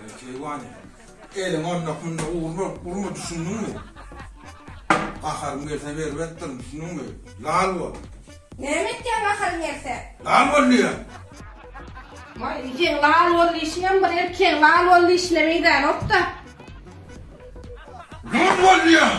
Eý keýwan, eliň onda munda urma, urma düşündiňmi? Gaharym gelse berip etdirin düşündiňmi? Lal bol. Näme etýäň gaharyň gelse? Lal bol diýýän. Waý, seň lal bol diýişiňem bir erkegiň lal bol diýişine meýdänokda. Lul bol diýýän.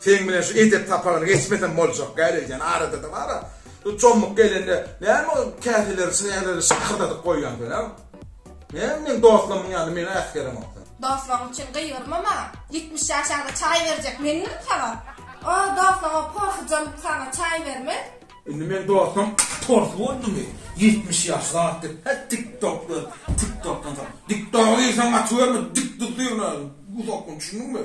Seň bilen şu etek sapagyny geçmesem boljak däl eýýäm, arada-da bar-a. Şu çomuk gelende näme ol käseleri, çägleri şakyrdadyp goýýaň sen-ä? Näme meň dostlarymyň ýanynda meni äsgeremok sen? Dostlaryň üçin gygyrma maňa. Ýetmiş ýaşaňda çaý berjek mendirin saňa? O dostlaryň porsujan saňa çaý bermez. Indi meň dostum pors boldumy? Ýetmiş ýaş zat diýip, hä tiktokly, tiktokdan soň. Diktogy diýseň açyberme, dikdi syrnaýyn, uzaklyn, düşündiňmi?